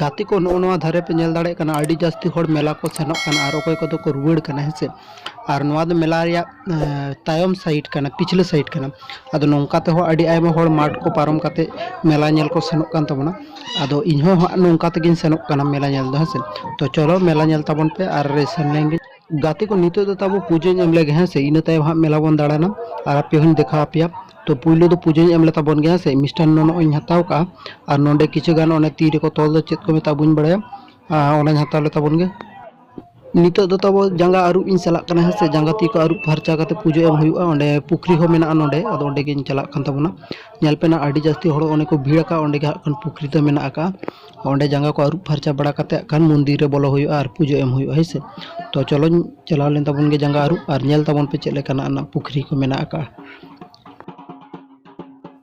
ᱜᱟᱛᱮ ᱠᱚ ᱱᱚᱜᱼᱚ ᱱᱚᱣᱟ ᱫᱷᱟᱨᱮ ᱯᱮ ᱧᱮᱞ ᱫᱟᱲᱮᱭᱟᱜ ᱠᱟᱱᱟ ᱟᱹᱰᱤ ᱡᱟᱹᱥᱛᱤ ᱦᱚᱲ ᱢᱮᱞᱟ ᱠᱚ ᱥᱮᱱᱚᱜ ᱠᱟᱱᱟ ᱟᱨ ᱚᱠᱚᱭ ᱠᱚᱫᱚ ᱠᱚ ᱨᱩᱣᱟᱹᱲ ᱠᱟᱱᱟ ᱦᱮᱸ ᱥᱮ ᱟᱨ ᱱᱚᱣᱟ ᱫᱚ ᱢᱮᱞᱟ ᱨᱮᱭᱟᱜ ᱛᱟᱭᱚᱢ ᱥᱟᱭᱤᱰ ᱠᱟᱱᱟ ᱯᱤᱪᱷᱞᱟᱹ ᱥᱟᱭᱤᱰ ᱠᱟᱱᱟ ᱟᱫᱚ ᱱᱚᱝᱠᱟ ᱛᱮᱦᱚᱸ ᱟᱹᱰᱤ ᱟᱭᱢᱟ ᱦᱚᱲ ᱢᱟᱴᱷ ᱠᱚ ᱯᱟᱨᱚᱢ ᱠᱟᱛᱮᱫ ᱢᱮᱞᱟ ᱧᱮᱞ ᱠᱚ ᱥᱮᱱᱚᱜ ᱠᱟᱱ ᱛᱟᱵᱚᱱᱟ ᱟᱫᱚ ᱤᱧ ᱦᱚᱸ ᱦᱟᱸᱜ ᱱᱚᱝᱠᱟ ᱛᱮᱜᱤᱧ ᱥᱮᱱᱚᱜ ᱠᱟᱱᱟ ᱢᱮᱞᱟ ᱧᱮᱞ ᱫᱚ ᱦᱮᱸᱥᱮ ᱛᱚ ᱪᱚᱞᱚ ᱢᱮᱞᱟ ᱧᱮᱞ ᱛᱟᱵᱚᱱ ᱯᱮ ᱟᱨ ᱥᱮᱱ ᱞᱮᱱ ᱜᱮ ᱜᱟᱛᱮ ᱠᱚ ᱱᱤᱛᱚᱜ ᱫᱚ ᱛᱟᱵᱚ ᱯᱩᱡᱟᱹᱧ ᱮᱢ ᱞᱮᱜᱮ ᱦᱮᱸ ᱥᱮ ᱤᱱᱟᱹ ᱛᱟᱭᱚᱢ ᱦᱟᱸᱜ ᱢᱮᱞᱟ ᱵᱚᱱ ᱫᱟᱬᱟᱱᱟ ᱟᱨ ᱟᱯᱮ ᱦᱚᱸᱧ ᱫᱮᱠᱷᱟᱣ ᱟᱯᱮᱭᱟ ᱛᱚ ᱯᱩᱭᱞᱩ ᱫᱚ ᱯᱩᱡᱟᱹᱧ ᱮᱢ ᱞᱮ ᱛᱟᱵᱚᱱ ᱜᱮ ᱦᱮᱸ ᱥᱮ ᱢᱤᱥᱴᱟᱱᱱᱚ ᱱᱚᱜᱼᱚᱭ ᱤᱧ ᱦᱟᱛᱟᱣ ᱠᱟᱜᱼᱟ ᱟᱨ ᱱᱚᱰᱮ ᱠᱤᱪᱷᱩ ᱜᱟᱱ ᱚᱱᱮ ᱛᱤ ᱨᱮᱠᱚ ᱛᱚᱞ ᱫᱚ ᱪᱮᱫ ᱠᱚ ᱢᱮᱛᱟᱜᱼᱟ ᱵᱟᱹᱧ ᱵᱟᱲᱟᱭᱟ ᱟᱨ ᱚᱱᱟᱧ ᱦᱟᱛᱟᱣ ᱞᱮ ᱛᱟᱵᱚᱱ ᱜᱮ ᱱᱤᱛᱚᱜ ᱫᱚ ᱛᱟᱵᱚ ᱡᱟᱸᱜᱟ ᱟᱹᱨᱩᱵ ᱤᱧ ᱪᱟᱞᱟᱜ ᱠᱟᱱᱟ ᱦᱮᱸ ᱥᱮ ᱡᱟᱸᱜᱟ ᱛᱤ ᱠᱚ ᱟᱹᱨᱩᱵ ᱯᱷᱟᱨᱪᱟ ᱠᱟᱛᱮ ᱯᱩᱡᱟᱹ ᱮᱢ ᱦᱩᱭᱩᱜᱼᱟ ᱚᱸᱰᱮ ᱯᱩᱠᱷᱨᱤ ᱦᱚᱸ ᱢᱮᱱᱟᱜᱼᱟ ᱱᱚᱸᱰᱮ ᱟᱫᱚ ᱚᱸᱰᱮ ᱜᱤᱧ ᱪᱟᱞᱟᱜ ᱠᱟᱱ ᱛᱟᱵᱚᱱᱟ ᱧᱮᱞ ᱯᱮ ᱱᱟᱜ ᱟᱹᱰᱤ ᱡᱟᱹᱥᱛᱤ ᱦᱚᱲ ᱚᱸᱰᱮ ᱠᱚ ᱵᱷᱤᱲ ᱟᱠᱟᱜᱼᱟ ᱚᱸᱰᱮ ᱜᱮ ᱦᱟᱸᱜ ᱠᱷᱟᱱ ᱯᱩᱠᱷᱨᱤ ᱫᱚ ᱢᱮᱱᱟᱜ ᱟᱠᱟᱜᱼᱟ ᱚᱸᱰᱮ ᱡᱟᱸᱜᱟ ᱠᱚ ᱟᱹᱨᱩᱵ ᱯᱷᱟᱨᱪᱟ ᱵᱟᱲᱟ ᱠᱟᱛᱮ ᱦᱟᱸᱜ ᱠᱷᱟᱱ ᱢᱚᱱᱫᱤᱨ ᱨᱮ ᱵᱚᱞᱚ ᱦᱩᱭᱩᱜᱼᱟ ᱟᱨ ᱯᱩᱡᱟᱹ ᱮᱢ ᱦᱩᱭᱩᱜᱼᱟ ᱦᱳᱭ ᱥᱮ ᱛᱚ ᱪᱚᱞᱚᱧ ᱪᱟᱞᱟᱣ ᱞᱮᱱ ᱛᱟᱵᱚᱱ ᱜᱮ ᱡᱟᱸᱜᱟ ᱟᱹᱨᱩᱵ ᱟᱨ ᱧᱮᱞ ᱛᱟᱵᱚᱱ ᱯᱮ ᱪᱮᱫ ᱞᱮᱠᱟᱱᱟᱜ ᱱᱟᱜ ᱯᱩᱠᱷᱨᱤ ᱠᱚ ᱢᱮᱱᱟᱜ ᱟᱠᱟᱜᱼᱟ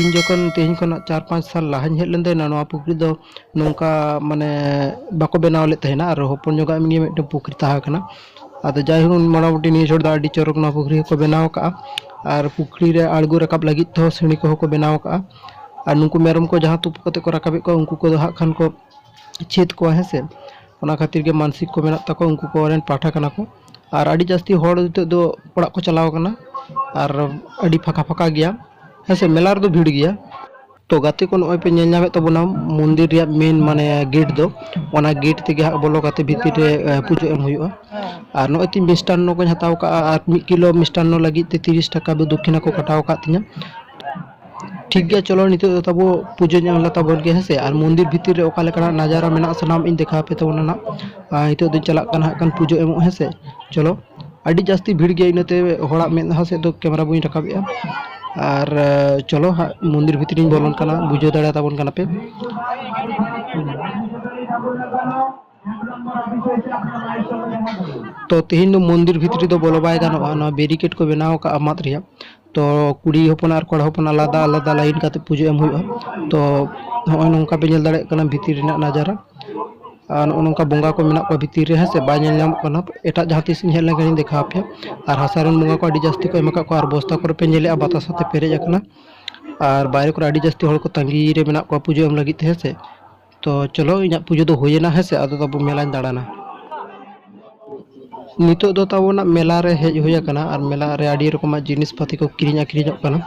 ᱤᱧ ᱡᱚᱠᱷᱚᱱ ᱛᱮᱦᱮᱧ ᱠᱷᱚᱱᱟᱜ ᱪᱟᱨ ᱯᱟᱸᱪ ᱥᱟᱞ ᱞᱟᱦᱟᱧ ᱦᱮᱡ ᱞᱮᱱ ᱛᱟᱦᱮᱱᱟ ᱱᱚᱣᱟ ᱯᱩᱠᱷᱨᱤ ᱫᱚ ᱱᱚᱝᱠᱟ ᱢᱟᱱᱮ ᱵᱟᱠᱚ ᱵᱮᱱᱟᱣ ᱞᱮᱫ ᱛᱟᱦᱮᱱᱟ ᱟᱨ ᱦᱚᱯᱚᱱ ᱧᱚᱜᱟᱜ ᱮᱢᱱᱤ ᱢᱤᱫᱴᱮᱱ ᱯᱩᱠᱷᱨᱤ ᱛᱟᱦᱮᱸ ᱠᱟᱱᱟ ᱟᱫᱚ ᱡᱟᱭᱦᱳᱠ ᱢᱚᱴᱟᱢᱩᱴᱤ ᱱᱤᱭᱟᱹ ᱪᱷᱚᱴ ᱫᱚ ᱟᱹᱰᱤ ᱪᱚᱨᱚᱠ ᱱᱚᱣᱟ ᱯᱩᱠᱷᱨᱤ ᱦᱚᱸᱠᱚ ᱵᱮᱱᱟᱣ ᱠᱟᱜᱼᱟ ᱟᱨ ᱯᱩᱠᱷᱨᱤ ᱨᱮ ᱟᱬᱜᱚ ᱨᱟᱠᱟᱵ ᱞᱟᱹᱜᱤᱫ ᱛᱮᱦᱚᱸ ᱥᱤᱬᱤ ᱠᱚᱦᱚᱸ ᱠᱚ ᱵᱮᱱᱟᱣ ᱠᱟᱜᱼᱟ ᱟᱨ ᱱᱩᱠᱩ ᱢᱮᱨᱚᱢ ᱠᱚ ᱡᱟᱦᱟᱸ ᱛᱩᱯᱩᱫ ᱠᱟᱛᱮᱫ ᱠᱚ ᱨᱟᱠᱟᱵᱮᱫ ᱠᱚᱣᱟ ᱩᱱᱠᱩ ᱠᱚᱫᱚ ᱦᱟᱸᱜ ᱠᱷᱟᱱ ᱠᱚ ᱪᱷᱮᱫ ᱠᱚᱣᱟ ᱦᱮᱸ ᱥᱮ ᱚᱱᱟ ᱠᱷᱟᱹᱛᱤᱨ ᱜᱮ ᱢᱟᱱᱥᱤᱠ ᱠᱚ ᱢᱮᱱᱟᱜ ᱛᱟᱠᱚᱣᱟ ᱩᱱᱠᱩ ᱠᱚ ᱨᱮᱱ ᱯᱟᱴᱷᱟ ᱠᱟᱱᱟ ᱠᱚ ᱟᱨ ᱟᱹᱰᱤ ᱡᱟᱹᱥᱛᱤ ᱦᱚᱲ ᱱᱤᱛᱚᱜ ᱫᱚ ᱚᱲᱟᱜ ᱠᱚ ᱪᱟᱞᱟᱣ ᱠᱟᱱᱟ ᱟᱨ ᱟᱹᱰᱤ ᱯᱷᱟᱸᱠᱟ ᱯᱷᱟᱸᱠᱟ ᱜᱮᱭᱟ ᱦᱮᱸ ᱥᱮ ᱢᱮᱞᱟ ᱨᱮᱫᱚ ᱵᱷᱤᱲ ᱜᱮᱭᱟ ᱛᱚ ᱜᱟᱛᱮ ᱠᱚ ᱱᱚᱜᱼᱚᱭ ᱯᱮ ᱧᱮᱞ ᱧᱟᱢᱮᱫ ᱛᱟᱵᱚᱱᱟ ᱢᱚᱱᱫᱤᱨ ᱨᱮᱭᱟᱜ ᱢᱮᱱ ᱢᱟᱱᱮ ᱜᱮᱴ ᱫᱚ ᱚᱱᱟ ᱜᱮᱴ ᱛᱮᱜᱮ ᱦᱟᱸᱜ ᱵᱚᱞᱚ ᱠᱟᱛᱮ ᱵᱷᱤᱛᱤᱨ ᱨᱮ ᱮ, ᱯᱩᱡᱟᱹ ᱮᱢ ᱦᱩᱭᱩᱜᱼᱟ ᱟᱨ ᱱᱚᱜᱼᱚᱭ ᱛᱤᱧ ᱢᱤᱥᱴᱟᱱᱱᱚ ᱠᱚᱧ ᱦᱟᱛᱟᱣ ᱠᱟᱜᱼᱟ ᱟᱨ ᱢᱤᱫ ᱠᱤᱞᱳ ᱢᱤᱥᱴᱟᱱᱱᱚ ᱞᱟᱹᱜᱤᱫ ᱛᱮ ᱛᱤᱨᱤᱥ ᱴᱟᱠᱟ ᱫᱚ ᱫᱚᱠᱠᱷᱤᱱᱟ ᱠᱚ ᱠᱟᱴᱟᱣ ᱟᱠᱟᱫ ᱛᱤᱧᱟᱹ ᱴᱷᱤᱠ ᱜᱮᱭᱟ ᱪᱚᱞᱚ ᱱᱤᱛᱚᱜ ᱫᱚ ᱛᱟᱵᱚ ᱯᱩᱡᱟᱹ ᱧᱚᱜ ᱞᱮ ᱛᱟᱵᱚᱱ ᱜᱮ ᱦᱮᱸᱥᱮ ᱟᱨ ᱢᱚᱱᱫᱤᱨ ᱵᱷᱤᱛᱤᱨ ᱨᱮ ᱚᱠᱟ ᱞᱮᱠᱟᱱᱟᱜ ᱱᱟᱡᱟᱨᱟ ᱢᱮᱱᱟᱜᱼᱟ ᱥᱟᱱᱟᱢ ᱤᱧ ᱫᱮᱠᱷᱟᱣ ᱟᱯᱮ ᱛᱟᱵᱚᱱᱟ ᱱᱟᱜ ᱟᱨ ᱱᱤᱛᱚᱜ ᱫᱚᱧ ᱪᱟᱞᱟᱜ ᱠᱟᱱᱟ ᱦᱟᱸᱜ ᱠᱷᱟᱱ ᱯᱩᱡᱟᱹ ᱮᱢᱚᱜ ᱦᱮᱸᱥᱮ ᱪᱚᱞᱚ ᱟᱹᱰᱤ ᱡᱟᱹᱥᱛᱤ ᱵᱷᱤᱲ ᱜᱮᱭᱟ ᱤᱱᱟᱹᱛᱮ ᱦᱚᱲᱟᱜ ᱢᱮᱫᱦᱟ ᱥᱮᱫ ᱫᱚ ᱠᱮᱢᱮᱨᱟ ᱵᱟᱹᱧ ᱨᱟᱠᱟᱵᱮᱜᱼᱟ ᱟᱨ ᱪᱚᱞᱚ ᱦᱟᱸᱜ ᱢᱚᱱᱫᱤᱨ ᱵᱷᱤᱛᱨᱤᱧ ᱵᱚᱞᱚᱱ ᱠᱟᱱᱟ ᱵᱩᱡᱷᱟᱹᱣ ᱫᱟᱲᱮᱭᱟᱛᱟᱵᱚᱱ ᱠᱟᱱᱟᱯᱮ ᱛᱚ ᱛᱮᱦᱮᱧ ᱫᱚ ᱢᱚᱱᱫᱤᱨ ᱵᱷᱤᱛᱨᱤ ᱫᱚ ᱵᱚᱞᱚ ᱵᱟᱭ ᱜᱟᱱᱚᱜᱼᱟ ᱱᱚᱣᱟ ᱵᱮᱨᱤᱠᱮᱰ ᱠᱚ ᱵᱮᱱᱟᱣ ᱟᱠᱟᱫᱼᱟ ᱢᱟᱫ ᱨᱮᱭᱟᱜ ᱛᱚ ᱠᱩᱲᱤ ᱦᱚᱯᱚᱱ ᱟᱨ ᱠᱚᱲᱟ ᱦᱚᱯᱚᱱ ᱟᱞᱟᱫᱟ ᱟᱞᱟᱫᱟ ᱞᱟᱭᱤᱱ ᱠᱟᱛᱮ ᱯᱩᱡᱟᱹ ᱮᱢ ᱦᱩᱭᱩᱜᱼᱟ ᱛᱚ ᱱᱚᱜᱼᱚᱭ ᱱᱚᱝᱠᱟ ᱯᱮ ᱧᱮᱞ ᱫᱟᱲᱮᱭᱟᱜ ᱠᱟᱱᱟ ᱵᱷᱤᱛᱤᱨ ᱨᱮᱱᱟᱜ ᱱᱟᱡᱟᱨᱟ ᱟᱨ ᱱᱚᱜᱼᱚ ᱱᱚᱝᱠᱟ ᱵᱚᱸᱜᱟ ᱠᱚ ᱢᱮᱱᱟᱜ ᱠᱚᱣᱟ ᱵᱷᱤᱛᱤᱨ ᱨᱮ ᱦᱮᱸ ᱥᱮ ᱵᱟᱭ ᱧᱮᱞ ᱧᱟᱢᱚᱜ ᱠᱟᱱᱟ ᱮᱴᱟᱜ ᱡᱟᱦᱟᱸ ᱛᱤᱥ ᱤᱧ ᱦᱮᱡ ᱞᱮᱱᱠᱷᱟᱱ ᱤᱧ ᱫᱮᱠᱷᱟᱣ ᱟᱯᱮᱭᱟ ᱟᱨ ᱦᱟᱥᱟ ᱨᱮᱱ ᱵᱚᱸᱜᱟ ᱠᱚ ᱟᱹᱰᱤ ᱡᱟᱹᱥᱛᱤ ᱠᱚ ᱮᱢ ᱟᱠᱟᱫ ᱠᱚᱣᱟ ᱟᱨ ᱵᱚᱥᱛᱟ ᱠᱚᱨᱮ ᱯᱮ ᱧᱮᱞᱮᱫᱼᱟ ᱵᱟᱛᱟᱥ ᱟᱛᱮ ᱯᱮᱨᱮᱡ ᱟᱠᱟᱱᱟ ᱟᱨ ᱵᱟᱭᱨᱮ ᱠᱚᱨᱮ ᱟᱹᱰᱤ ᱡᱟᱹᱥᱛᱤ ᱦᱚᱲ ᱠᱚ ᱛᱟᱺᱜᱤ ᱨᱮ ᱢᱮᱱᱟᱜ ᱠᱚᱣᱟ ᱯᱩᱡᱟᱹ ᱮᱢ ᱞᱟᱹᱜᱤᱫ ᱛᱮ ᱦᱮᱸ ᱥᱮ ᱛᱚ ᱪᱚᱞᱚ ᱤᱧᱟᱹᱜ ᱯᱩᱡᱟᱹ ᱫᱚ ᱦᱩᱭᱮᱱᱟ ᱦᱮᱸ ᱥᱮ ᱟᱫᱚ ᱛᱟᱵᱚ ᱢᱮᱞᱟᱧ ᱫᱟᱬᱟᱱᱟ ᱱᱤᱛᱚᱜ ᱫᱚ ᱛᱟᱵᱚᱱᱟᱜ ᱢᱮᱞᱟ ᱨᱮ ᱦᱮᱡ ᱦᱩᱭ ᱟᱠᱟᱱᱟ ᱟᱨ ᱢᱮᱞᱟ ᱨᱮ ᱟᱹᱰᱤ ᱨᱚᱠᱚᱢᱟᱜ ᱡᱤᱱᱤᱥ ᱯᱟᱹᱛᱤ ᱠᱚ ᱠᱤᱨᱤᱧ ᱟᱹᱠᱷᱨᱤᱧᱚᱜ ᱠᱟᱱᱟ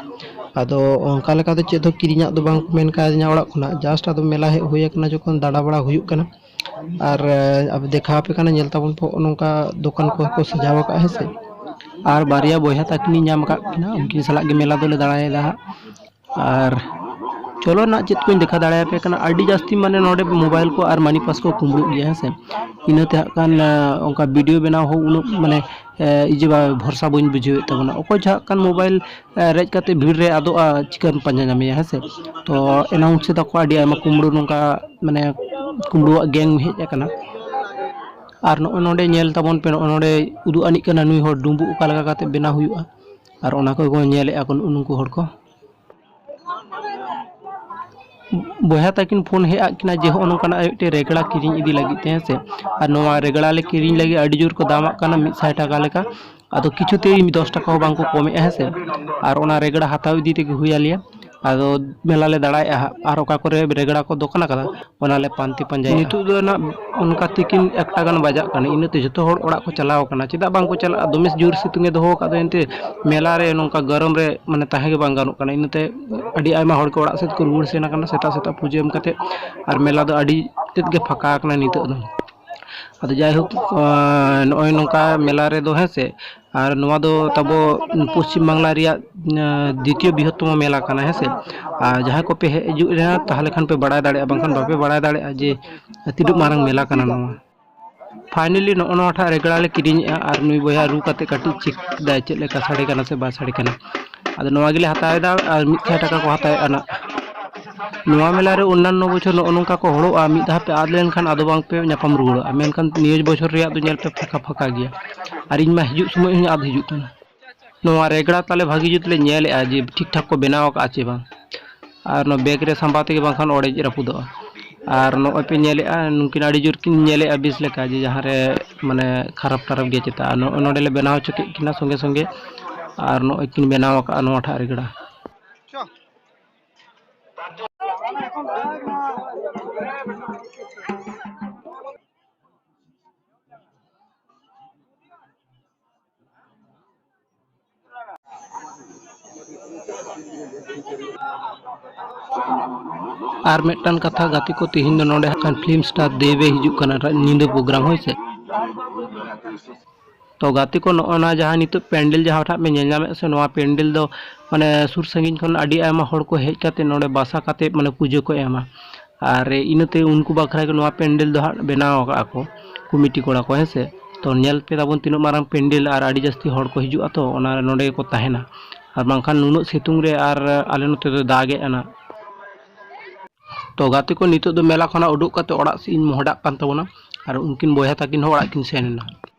ᱟᱫᱚ ᱚᱱᱠᱟ ᱞᱮᱠᱟ ᱫᱚ ᱪᱮᱫ ᱦᱚᱸ ᱠᱤᱨᱤᱧᱟᱜ ᱫᱚ ᱵᱟᱝ ᱢᱮᱱ ᱠᱟᱣᱫᱤᱧᱟ ᱚᱲᱟᱜ ᱠᱷᱚᱱᱟᱜ ᱡᱟᱥᱴ ᱟᱫᱚ ᱢᱮᱞᱟ ᱦᱮᱡ ᱦᱩᱭ ᱟᱠᱟᱱᱟ ᱡᱚᱠᱷᱚᱱ ᱫᱟᱬᱟ ᱵᱟᱲᱟ ᱦᱩᱭᱩᱜ ᱠᱟᱱᱟ ᱟᱨ ᱟᱵᱚ ᱫᱮᱠᱷᱟ ᱟᱯᱮ ᱠᱟᱱᱟ ᱧᱮᱞ ᱛᱟᱵᱚᱱ ᱯᱮ ᱱᱚᱜᱼᱚ ᱱᱚᱝᱠᱟ ᱫᱚᱠᱟᱱ ᱠᱚᱦᱚᱸ ᱠᱚ ᱥᱟᱡᱟᱣ ᱟᱠᱟᱫᱼᱟ ᱦᱮᱸ ᱥᱮ ᱟᱨ ᱵᱟᱨᱭᱟ ᱵᱚᱭᱦᱟ ᱛᱟᱹᱠᱤᱱᱤᱧ ᱧᱟᱢ ᱟᱠᱟᱫ ᱠᱤᱱᱟ ᱩᱱᱠᱤᱱ ᱥᱟᱞᱟᱜ ᱜᱮ ᱢᱮᱞᱟ ᱫᱚᱞᱮ ᱫᱟᱬᱟᱭᱮᱫᱟ ᱦᱟᱸᱜ ᱟᱨ ᱪᱚᱞᱚ ᱱᱟᱜ ᱪᱮᱫ ᱠᱚᱧ ᱫᱮᱠᱷᱟᱣ ᱫᱟᱲᱮᱭᱟᱯᱮ ᱠᱟᱱᱟ ᱟᱹᱰᱤ ᱡᱟᱹᱥᱛᱤ ᱢᱟᱱᱮ ᱱᱚᱰᱮ ᱢᱳᱵᱟᱭᱤᱞ ᱠᱚ ᱟᱨ ᱢᱟᱱᱤ ᱯᱟᱥ ᱠᱚ ᱠᱩᱢᱵᱽᱲᱩᱜ ᱜᱮᱭᱟ ᱦᱮᱸ ᱥᱮ ᱤᱱᱟᱹᱛᱮ ᱦᱟᱸᱜ ᱠᱷᱟᱱ ᱚᱱᱠᱟ ᱵᱷᱤᱰᱭᱳ ᱵᱮᱱᱟᱣ ᱦᱚᱸ ᱩᱱᱟᱹᱜ ᱢᱟᱱᱮ ᱤᱭᱟᱹ ᱵᱟ ᱵᱷᱚᱨᱥᱟ ᱵᱟᱹᱧ ᱵᱩᱡᱷᱟᱹᱣᱮᱫ ᱛᱟᱵᱚᱱᱟ ᱚᱠᱚᱭ ᱪᱚ ᱦᱟᱸᱜ ᱠᱷᱟᱱ ᱢᱳᱵᱟᱭᱤᱞ ᱨᱮᱡ ᱠᱟᱛᱮ ᱵᱷᱤᱲ ᱨᱮ ᱟᱫᱚᱜᱼᱟ ᱪᱤᱠᱟᱹᱢ ᱯᱟᱸᱡᱟ ᱧᱟᱢᱮᱭᱟ ᱦᱮᱸ ᱥᱮ ᱛᱚ ᱮᱱᱟᱣᱩᱱᱥ ᱮᱫᱟ ᱠᱚ ᱟᱹᱰᱤ ᱟᱭᱢᱟ ᱠᱩᱢᱵᱽᱲᱩ ᱱᱚᱝᱠᱟ ᱢᱟᱱᱮ ᱠᱩᱢᱵᱽᱲᱩᱣᱟᱜ ᱜᱮᱝ ᱦᱮᱡ ᱟᱠᱟᱱᱟ ᱟᱨ ᱱᱚᱜᱼᱚᱭ ᱱᱚᱰᱮ ᱧᱮᱞ ᱛᱟᱵᱚᱱ ᱯᱮ ᱱᱚᱜᱼᱚᱭ ᱱᱚᱰᱮ ᱩᱫᱩᱜ ᱟᱹᱱᱤᱡ ᱠᱟᱱᱟ ᱱᱩᱭ ᱦᱚᱲ ᱰᱩᱢᱵᱩᱜ ᱚᱠᱟ ᱞᱮᱠᱟ ᱠᱟᱛᱮ ᱵᱮᱱᱟᱣ ᱦᱩᱭᱩᱜᱼᱟ ᱟᱨ ᱚᱱᱟ ᱠᱚ ᱧᱮᱞᱮᱫᱼᱟ ᱠᱚ ᱱᱩᱠᱩ ᱦᱚᱲ ᱠᱚ ᱵᱚᱭᱦᱟ ᱛᱟᱹᱠᱤᱱ ᱯᱷᱳᱱ ᱦᱮᱡ ᱟᱫ ᱠᱤᱱᱟ ᱡᱮ ᱦᱚᱸᱜᱼᱚ ᱱᱚᱝᱠᱟᱱᱟᱜ ᱢᱤᱫᱴᱮᱡ ᱨᱮᱜᱽᱲᱟ ᱠᱤᱨᱤᱧ ᱤᱫᱤ ᱞᱟᱹᱜᱤᱫ ᱛᱮ ᱦᱮᱸ ᱥᱮ ᱟᱨ ᱱᱚᱣᱟ ᱨᱮᱜᱽᱲᱟ ᱞᱮ ᱠᱤᱨᱤᱧ ᱞᱟᱹᱜᱤᱫ ᱟᱹᱰᱤ ᱡᱳᱨ ᱠᱚ ᱫᱟᱢᱟᱜ ᱠᱟᱱᱟ ᱢᱤᱫ ᱥᱟᱭ ᱴᱟᱠᱟ ᱞᱮᱠᱟ ᱟᱫᱚ ᱠᱤᱪᱷᱩ ᱛᱮ ᱫᱚᱥ ᱴᱟᱠᱟ ᱦᱚᱸ ᱵᱟᱝ ᱠᱚ ᱠᱚᱢᱮᱫᱼᱟ ᱦᱮᱸ ᱥᱮ ᱟᱨ ᱚᱱᱟ ᱨᱮᱜᱽᱲᱟ ᱦᱟᱛᱟᱣ ᱤᱫᱤ ᱛᱮᱜᱮ ᱦᱩᱭ ᱟᱞᱮᱭᱟ ᱟᱫᱚ ᱢᱮᱞᱟ ᱞᱮ ᱫᱟᱲᱟᱭᱮᱜᱼᱟ ᱦᱟᱸᱜ ᱟᱨ ᱚᱠᱟ ᱠᱚᱨᱮ ᱨᱮᱜᱽᱲᱟ ᱠᱚ ᱫᱚᱠᱟᱱ ᱟᱠᱟᱫᱟ ᱚᱱᱟ ᱞᱮ ᱯᱟᱱᱛᱮ ᱯᱟᱸᱡᱟᱭᱟ ᱱᱤᱛᱚᱜ ᱫᱚ ᱱᱟᱜ ᱚᱱᱠᱟ ᱛᱤᱠᱤᱱ ᱮᱠᱴᱟ ᱜᱟᱱ ᱵᱟᱡᱟᱜ ᱠᱟᱱᱟ ᱤᱱᱟᱹᱛᱮ ᱡᱚᱛᱚ ᱦᱚᱲ ᱚᱲᱟᱜ ᱠᱚ ᱪᱟᱞᱟᱣ ᱠᱟᱱᱟ ᱪᱮᱫᱟᱜ ᱵᱟᱝ ᱠᱚ ᱪᱟᱞᱟᱜᱼᱟ ᱫᱚᱢᱮ ᱡᱳᱨ ᱥᱤᱛᱩᱝ ᱮ ᱫᱚᱦᱚ ᱟᱠᱟᱫ ᱫᱚ ᱮᱱᱛᱮ ᱢᱮᱞᱟ ᱨᱮ ᱱᱚᱝᱠᱟ ᱜᱚᱨᱚᱢ ᱨᱮ ᱢᱟᱱᱮ ᱛᱟᱦᱮᱸ ᱜᱮ ᱵᱟᱝ ᱜᱟᱱᱚᱜ ᱠᱟᱱᱟ ᱤᱱᱟᱹᱛᱮ ᱟᱹᱰᱤ ᱟᱭᱢᱟ ᱦᱚᱲ ᱠᱚ ᱚᱲᱟᱜ ᱥᱮᱫ ᱠᱚ ᱨᱩᱣᱟᱹᱲ ᱥᱮᱱ ᱠᱟᱱᱟ ᱥᱮᱛᱟᱜ ᱥᱮᱛᱟᱜ ᱯᱩᱡᱟᱹ ᱮᱢ ᱠᱟᱛᱮᱫ ᱟᱨ ᱢᱮᱞᱟ ᱫᱚ ᱟᱹᱰᱤ ᱛᱮᱫ ᱜᱮ ᱯᱷᱟᱸᱠᱟ ᱟᱠᱟᱱᱟ ᱱᱤᱛᱚᱜ ᱫᱚ ᱟᱫᱚ ᱡᱟᱭᱦᱳᱠ ᱱᱚᱜᱼᱚᱭ ᱱᱚᱝᱠᱟ ᱢᱮᱞᱟ ᱨᱮᱫᱚ ᱦᱮᱸ ᱥᱮ ᱟᱨ ᱱᱚᱣᱟ ᱫᱚ ᱛᱟᱦᱚᱞᱮ ᱚᱱᱟ ᱛᱟᱵᱚ ᱠᱚ ᱥᱟᱭᱤᱰ ᱨᱮ ᱢᱟᱱᱮ ᱯᱚᱥᱪᱤᱢ ᱵᱟᱝᱞᱟ ᱨᱮᱭᱟᱜ ᱫᱤᱛᱤᱭᱚ ᱵᱨᱤᱦᱚᱛᱛᱚᱢᱚ ᱢᱮᱞᱟ ᱠᱟᱱᱟ ᱦᱮᱸ ᱥᱮ ᱟᱨ ᱡᱟᱦᱟᱸᱭ ᱠᱚᱯᱮ ᱦᱮᱡ ᱦᱤᱡᱩᱜ ᱨᱮᱦ ᱛᱟᱦᱚᱞᱮ ᱠᱷᱟᱱ ᱯᱮ ᱵᱟᱲᱟᱭ ᱫᱟᱲᱮᱭᱟᱜᱼᱟ ᱵᱟᱝᱠᱷᱟᱱ ᱵᱟᱯᱮ ᱵᱟᱲᱟᱭ ᱫᱟᱲᱮᱭᱟᱜᱼᱟ ᱡᱮ ᱛᱤᱱᱟᱹᱜ ᱢᱟᱨᱟᱝ ᱢᱮᱞᱟ ᱠᱟᱱᱟ ᱱᱚᱣᱟ ᱯᱷᱟᱭᱱᱮᱞᱤ ᱱᱚᱜᱼᱚ ᱱᱚᱣᱟᱴᱟᱜ ᱨᱮᱜᱽᱲᱟ ᱞᱮ ᱠᱤᱨᱤᱧᱮᱜᱼᱟ ᱟᱨ ᱱᱩᱭ ᱵᱚᱭᱦᱟ ᱨᱩ ᱠᱟᱛᱮᱫ ᱠᱟᱹᱴᱤᱡ ᱪᱮᱠ ᱫᱟᱭ ᱪᱮᱫ ᱞᱮᱠᱟ ᱥᱟᱰᱮ ᱠᱟᱱᱟ ᱥᱮ ᱵᱟᱭ ᱥᱟᱰᱮ ᱠᱟᱱᱟ ᱟᱫᱚ ᱱᱚᱣᱟ ᱜᱮᱞᱮ ᱦᱟᱛᱟᱣ ᱮᱫᱟ ᱟᱨ ᱢᱤᱫ ᱥᱟᱭ ᱴᱟᱠᱟ ᱠᱚ ᱦᱟᱛᱟᱣᱮᱫ ᱟᱱᱟ ᱱᱚᱣᱟ ᱢᱮᱞᱟ ᱨᱮ ᱚᱱᱱᱟᱱᱚ ᱵᱚᱪᱷᱚᱨ ᱱᱚᱜᱼᱚ ᱱᱚᱝᱠᱟ ᱠᱚ ᱦᱚᱲᱚᱜᱼᱟ ᱢᱤᱫ ᱫᱷᱟᱣ ᱯᱮ ᱟᱫ ᱞᱮᱱᱠᱷᱟᱱ ᱟᱫᱚ ᱵᱟᱝ ᱯᱮ ᱧᱟᱯᱟᱢ ᱨᱩᱣᱟᱹᱲᱚᱜᱼᱟ ᱢᱮᱱᱠᱷᱟᱱ ᱱᱤᱭᱟᱹ ᱵᱚᱪᱷᱚᱨ ᱨᱮᱭᱟᱜ ᱫᱚ ᱧᱮᱞ ᱯᱮ ᱯᱷᱟᱸᱠᱟ ᱯᱷᱟᱸᱠᱟ ᱜᱮᱭᱟ ᱟᱨ ᱤᱧ ᱢᱟ ᱦᱤᱡᱩᱜ ᱥᱚᱢᱚᱭ ᱦᱚᱸᱧ ᱟᱫ ᱦᱤᱡᱩᱜ ᱠᱟᱱᱟ ᱱᱚᱣᱟ ᱨᱮᱜᱽᱲᱟ ᱛᱟᱞᱮ ᱵᱷᱟᱹᱜᱤ ᱡᱩᱛ ᱞᱮ ᱧᱮᱞᱮᱫᱼᱟ ᱡᱮ ᱴᱷᱤᱠ ᱴᱷᱟᱠ ᱠᱚ ᱵᱮᱱᱟᱣ ᱟᱠᱟᱫᱼᱟ ᱪᱮ ᱵᱟᱝ ᱟᱨ ᱱᱚᱣᱟ ᱵᱮᱜᱽ ᱨᱮ ᱥᱟᱢᱵᱟᱣ ᱛᱮᱜᱮ ᱵᱟᱝᱠᱷᱟᱱ ᱚᱲᱮᱡ ᱨᱟᱹᱯᱩᱫᱚᱜᱼᱟ ᱟᱨ ᱱᱚᱜᱼᱚᱭ ᱯᱮ ᱧᱮᱞᱮᱫᱼᱟ ᱱᱩᱠᱤᱱ ᱟᱹᱰᱤ ᱡᱳᱨ ᱠᱤᱱ ᱧᱮᱞᱮᱫᱼᱟ ᱵᱮᱥ ᱞᱮᱠᱟ ᱡᱮ ᱡᱟᱦᱟᱸ ᱨᱮ ᱢᱟᱱᱮ ᱠᱷᱟᱨᱟᱯ ᱴᱟᱨᱟᱯ ᱜᱮᱭᱟ ᱪᱮᱛᱟ ᱟᱨ ᱱᱚᱜᱼᱚᱭ ᱱᱚᱰᱮ ᱞᱮ ᱵᱮᱱᱟᱣ ᱦᱚᱪᱚ ᱠᱮᱫ ᱠᱤᱱᱟ ᱥᱚᱸᱜᱮ ᱥᱚᱸᱜᱮ ᱟᱨ ᱱᱚᱜᱼᱚᱭ ᱠᱤᱱ ᱵᱮᱱᱟᱣ ᱟᱠᱟᱫᱼᱟ ᱱᱚᱣᱟ ᱴᱷᱟᱜ ᱨᱮᱜᱽᱲᱟ ᱟᱨ ᱢᱤᱫᱴᱟᱝ ᱠᱟᱛᱷᱟ ᱜᱟᱛᱮ ᱠᱚ ᱛᱮᱦᱮᱧ ᱫᱚ ᱱᱚᱰᱮ ᱦᱟᱸᱜ ᱯᱷᱤᱞᱢ ᱥᱴᱟᱨ ᱫᱮᱵᱮ ᱦᱤᱡᱩᱜ ᱠᱟᱱᱟ ᱧᱤᱫᱟᱹ ᱯᱨᱳᱜᱨᱟᱢ ᱦᱳᱭ ᱥᱮ ᱛᱚ ᱜᱟᱛᱮ ᱠᱚ ᱱᱚᱜᱼᱚ ᱱᱟ ᱡᱟᱦᱟᱸ ᱱᱤᱛᱚᱜ ᱯᱮᱱᱰᱮᱞ ᱡᱟᱦᱟᱸ ᱴᱷᱟᱜ ᱯᱮ ᱧᱮᱞ ᱧᱟᱢᱮᱫ ᱥᱮ ᱱᱚᱣᱟ ᱯᱮᱱᱰᱮᱞ ᱫᱚ ᱢᱟᱱᱮ ᱥᱩᱨ ᱥᱟᱺᱜᱤᱧ ᱠᱷᱚᱱ ᱟᱹᱰᱤ ᱟᱭᱢᱟ ᱦᱚᱲ ᱠᱚ ᱦᱮᱡ ᱠᱟᱛᱮ ᱱᱚᱰᱮ ᱵᱟᱥᱟ ᱠᱟᱛᱮ ᱢᱟᱱᱮ ᱯᱩᱡᱟᱹ ᱠᱚ ᱮᱢᱟ ᱟᱨ ᱤᱱᱟᱹᱛᱮ ᱩᱱᱠᱩ ᱵᱟᱠᱷᱨᱟ ᱜᱮ ᱱᱚᱣᱟ ᱯᱮᱱᱰᱮᱞ ᱫᱚ ᱦᱟᱸᱜ ᱵᱮᱱᱟᱣ ᱟᱠᱟᱜᱼᱟ ᱠᱚ ᱠᱚᱢᱤᱴᱤ ᱠᱚᱲᱟ ᱠᱚ ᱦᱮᱸ ᱥᱮ ᱛᱚ ᱧᱮᱞ ᱯᱮ ᱛᱟᱵᱚᱱ ᱛᱤᱱᱟᱹᱜ ᱢᱟᱨᱟᱝ ᱯᱮᱱᱰᱮᱞ ᱟᱨ ᱟᱹᱰᱤ ᱡᱟᱹᱥᱛᱤ ᱦᱚᱲ ᱠᱚ ᱦᱤᱡᱩᱜᱼᱟ ᱛᱚ ᱚᱱᱟ ᱱᱚᱸᱰᱮ ᱜᱮᱠᱚ ᱛᱟᱦᱮᱱᱟ ᱟᱨ ᱵᱟᱝᱠᱷᱟᱱ ᱱᱩᱱᱟᱹᱜ ᱥᱤᱛᱩᱝ ᱨᱮ ᱟᱨ ᱟᱞᱮ ᱱᱚᱛᱮ ᱫᱚ ᱫᱟᱜᱮᱫ ᱟᱱᱟ ᱛᱚ ᱜᱟᱛᱮ ᱠᱚ ᱱᱤᱛᱚᱜ ᱫᱚ ᱢᱮᱞᱟ ᱠᱷᱚᱱᱟᱜ ᱩᱰᱩᱠ ᱠᱟᱛᱮ ᱚᱲᱟᱜ ᱥᱮᱫ ᱤᱧ ᱢᱚᱦᱰᱟᱜ ᱠᱟᱱ ᱛᱟᱵᱚᱱᱟ ᱟᱨ ᱩᱱᱠᱤᱱ ᱵᱚᱭᱦᱟ ᱛᱟᱹᱠᱤᱱ ᱦᱚᱸ ᱚᱲᱟᱜ ᱠᱤᱱ ᱥᱮᱱ ᱮᱱᱟ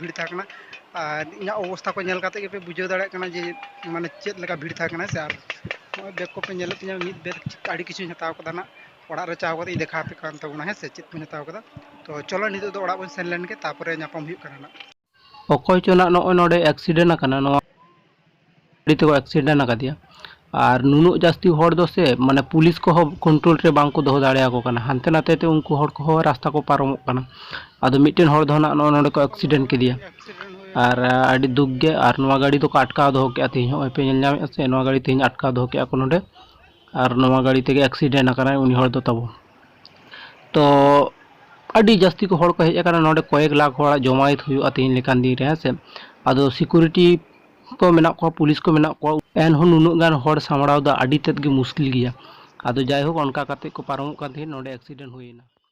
ᱵᱷᱤᱲ ᱛᱟᱦᱮᱸ ᱠᱟᱱᱟ ᱟᱨ ᱤᱧᱟᱹᱜ ᱚᱵᱚᱥᱛᱷᱟ ᱠᱚ ᱧᱮᱞ ᱠᱟᱛᱮᱫ ᱜᱮᱯᱮ ᱵᱩᱡᱷᱟᱹᱣ ᱫᱟᱲᱮᱭᱟᱜ ᱠᱟᱱᱟ ᱡᱮ ᱢᱟᱱᱮ ᱪᱮᱫ ᱞᱮᱠᱟ ᱵᱷᱤᱲ ᱛᱟᱦᱮᱸ ᱠᱟᱱᱟ ᱥᱮ ᱟᱨ ᱱᱚᱜᱼᱚᱭ ᱵᱮᱜᱽ ᱠᱚᱯᱮ ᱧᱮᱞᱮᱫ ᱛᱤᱧᱟᱹ ᱢᱤᱫ ᱵᱮᱜᱽ ᱟᱹᱰᱤ ᱠᱤᱪᱷᱩᱧ ᱦᱟᱛᱟᱣ ᱠᱟᱫᱟ ᱱᱟᱜ ᱚᱲᱟᱜ ᱨᱮ ᱪᱟᱞᱟᱣ ᱠᱟᱛᱮᱫ ᱤᱧ ᱫᱮᱠᱷᱟᱣ ᱟᱯᱮ ᱠᱟᱱ ᱛᱟᱵᱚᱱᱟ ᱦᱮᱸ ᱥᱮ ᱪᱮᱫ ᱠᱚᱧ ᱦᱟᱛᱟᱣ ᱠᱟᱫᱟ ᱛᱚ ᱪᱚᱞᱚ ᱱᱤᱛᱚᱜ ᱫᱚ ᱚᱲᱟᱜ ᱵᱚᱱ ᱥᱮᱱ ᱞᱮᱱᱜᱮ ᱛᱟᱨᱯᱚᱨᱮ ᱧᱟᱯᱟᱢ ᱦᱩᱭᱩᱜ ᱠᱟᱱᱟ ᱱᱟᱜ ᱚᱠᱚᱭ ᱪᱚ ᱱᱟᱜ ᱱᱚᱜᱼᱚᱭ ᱱᱚᱰᱮ ᱮᱠᱥᱤᱰᱮᱱᱴ ᱟᱠᱟᱱᱟ ᱱᱚᱣᱟ ᱟᱹᱰᱤ ᱛᱮᱠᱚ ᱮᱠᱥᱤᱰᱮᱱᱴ ᱟᱠᱟᱫᱮᱭᱟ ᱟᱨ ᱱᱩᱱᱟᱹᱜ ᱡᱟᱹᱥᱛᱤ ᱦᱚᱲ ᱫᱚ ᱥᱮ ᱢᱟᱱᱮ ᱯᱩᱞᱤᱥ ᱠᱚᱦᱚᱸ ᱠᱚᱱᱴᱨᱳᱞ ᱨᱮ ᱵᱟᱝ ᱠᱚ ᱫᱚᱦᱚ ᱫᱟᱲᱮᱭᱟᱠᱚ ᱠᱟᱱᱟ ᱦᱟᱱᱛᱮ ᱱᱟᱛᱮ ᱛᱮ ᱩᱱᱠᱩ ᱦᱚᱲ ᱠᱚᱦᱚᱸ ᱨᱟᱥᱛᱟ ᱠᱚ ᱯᱟᱨᱚᱢᱚᱜ ᱠᱟᱱᱟ ᱟᱫᱚ ᱢᱤᱫᱴᱮᱱ ᱦᱚᱲ ᱫᱚ ᱱᱟᱦᱟᱜ ᱱᱚᱜᱼᱚ ᱱᱚᱰᱮ ᱠᱚ ᱮᱠᱥᱤᱰᱮᱱᱴ ᱠᱮᱫᱮᱭᱟ ᱟᱨ ᱟᱹᱰᱤ ᱫᱩᱠ ᱜᱮ ᱟᱨ ᱱᱚᱣᱟ ᱜᱟᱹᱰᱤ ᱫᱚᱠᱚ ᱟᱴᱠᱟᱣ ᱫᱚᱦᱚ ᱠᱮᱫᱼᱟ ᱛᱮᱦᱮᱧ ᱦᱚᱸᱜᱼᱚᱭ ᱯᱮ ᱧᱮᱞ ᱧᱟᱢᱮᱫᱼᱟ ᱥᱮ ᱱᱚᱣᱟ ᱜᱟᱹᱰᱤ ᱛᱮᱦᱮᱧ ᱟᱴᱠᱟᱣ ᱫᱚᱦᱚ ᱠᱮᱫᱼᱟ ᱠᱚ ᱱᱚᱰᱮ ᱟᱨ ᱱᱚᱣᱟ ᱜᱟᱹᱰᱤ ᱛᱮᱜᱮ ᱮᱠᱥᱤᱰᱮᱱᱴ ᱟᱠᱟᱱᱟᱭ ᱩᱱᱤ ᱦᱚᱲ ᱫᱚ ᱛᱟᱵᱚ ᱛᱚ ᱟᱹᱰᱤ ᱡᱟᱹᱥᱛᱤ ᱠᱚ ᱦᱚᱲ ᱠᱚ ᱦᱮᱡ ᱟᱠᱟᱱᱟ ᱱᱚᱰᱮ ᱠᱚᱭᱮᱠ ᱞᱟᱠᱷ ᱦᱚᱲᱟᱜ ᱡᱚᱢᱟᱭᱮᱛ ᱦᱩᱭᱩᱜᱼᱟ ᱛᱮᱦᱮᱧ ᱞᱮᱠᱟᱱ ᱫᱤᱱ ᱨᱮ ᱦᱮᱸ ᱥᱮ ᱟᱫᱚ ᱥᱤᱠᱩᱨᱤᱴᱤ ᱠᱚ ᱢᱮᱱᱟᱜ ᱠᱚᱣᱟ ᱯᱩᱞᱤᱥ ᱠᱚ ᱢᱮᱱᱟᱜ ᱠᱚᱣᱟ ᱮᱱᱦᱚᱸ ᱱᱩᱱᱟᱹᱜ ᱜᱟᱱ ᱦᱚᱲ ᱥᱟᱢᱵᱽᱲᱟᱣ ᱫᱚ ᱟᱹᱰᱤ ᱛᱮᱫ ᱜᱮ ᱢᱩᱥᱠᱤᱞ ᱜᱮᱭᱟ ᱟᱫᱚ ᱡᱟᱭᱦᱳᱠ ᱚᱱᱠᱟ ᱠᱟᱛᱮᱫ ᱠᱚ ᱯᱟᱨᱚᱢᱚᱜ ᱠᱟᱱ ᱛᱟᱦᱮᱸᱫ ᱱᱚᱰᱮ ᱮᱠᱥᱤᱰᱮᱱᱴ ᱦᱩᱭᱮᱱᱟ